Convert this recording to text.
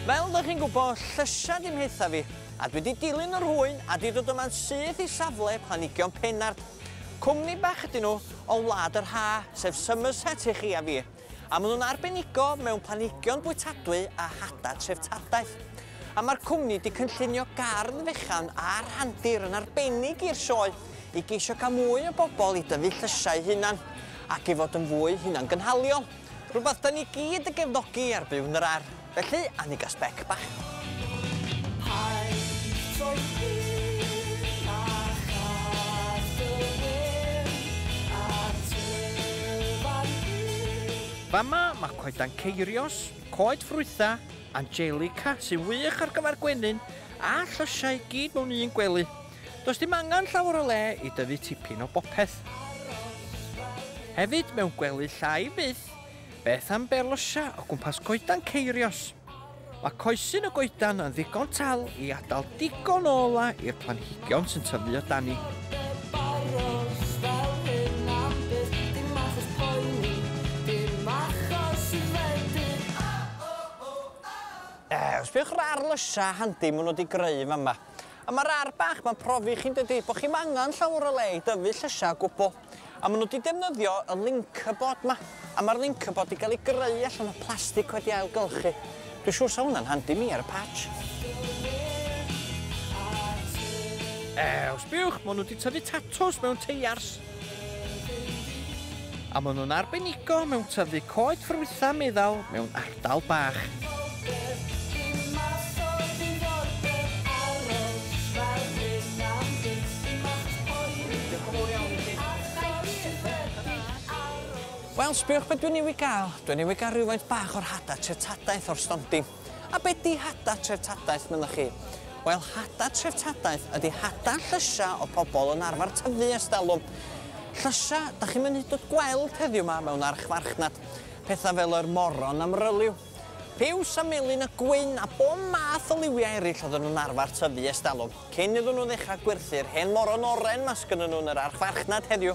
Fel dych chi'n gwybod, llysia di mhletha fi, a dwi di dilyn yr hwy'n a di dod yma'n syth i safle Planhigion Pennard. Cwmni bach ydyn nhw o Wlad yr Ha, sef Somerset i chi a fi. a maen nhw'n arbenigo mewn planhigion bwytadwy a hadau treftadaeth. A mae'r cwmni wedi cynllunio gardd fechan a rhandir yn arbennig i'r sioe i geisio cael mwy o bobl i dyfu llysiau hunan ac i fod yn fwy hunangynhaliol, rhywbeth da ni gyd yn gefnogi ar Byw yn yr Ar. Felly, a ni ga sbec bach. Hi, troi llun a chas y wyn a tyfan hir. Fama mae coedan ceirios, coed ffrwytha, angelica sy'n wych ar gyfer gwenyn a llysiau i gyd mewn un gwely. Does dim angen llawer o le i dyfu tipyn o bopeth. Hefyd mewn gwely llai fyth. Beth am berlysia o gwmpas coedan ceirios? Mae coesyn y goedan yn ddigon tal i adael digon o ola i'r planhigion sy'n tyfu o dani. Yy, sbïwch ar ar lysia handi maen nhw wedi greu yn fama. A mae'r ar bach ma'n profi i chi yn dydi? Bod chi'm angen llawer o le i dyfu llysia o gwbl. A maen nhw wedi defnyddio y Linkerboard 'ma. A mae'r Linkerboard wedi cael ei greu allan o plastig wedi ailgylchu. Dwi'n siŵr 'sa hwnna'n handi mi ar y patch. Ew, sbiwch, maen nhw wedi tyfu tatws mewn teiars. A maen nhw'n arbenigo mewn tyfu coed ffrwythau meddal mewn Dal bach. Wel, sbïwch be dwi newydd gael. Dwi newydd gael rhywfaint bach o'r hada treftadaeth o'r stondin. A be di hada treftadaeth, mynnwch chi? Wel, hada treftadaeth ydi hada llysia o pobl yn arfer tyfu ers dalwm. Llysia, da chi'm yn hyd yn oed gweld heddiw ma mewn archfarchnad. Pethau fel yr moron am ryliw, piws a melyn a gwyn a bob math o liwiau eraill oedden nhw'n arfer tyfu ers talwm, cyn iddyn nhw ddechrau gwerthu'r hen moron oren 'ma sgynnyn nhw yn yr archfarchnad heddiw.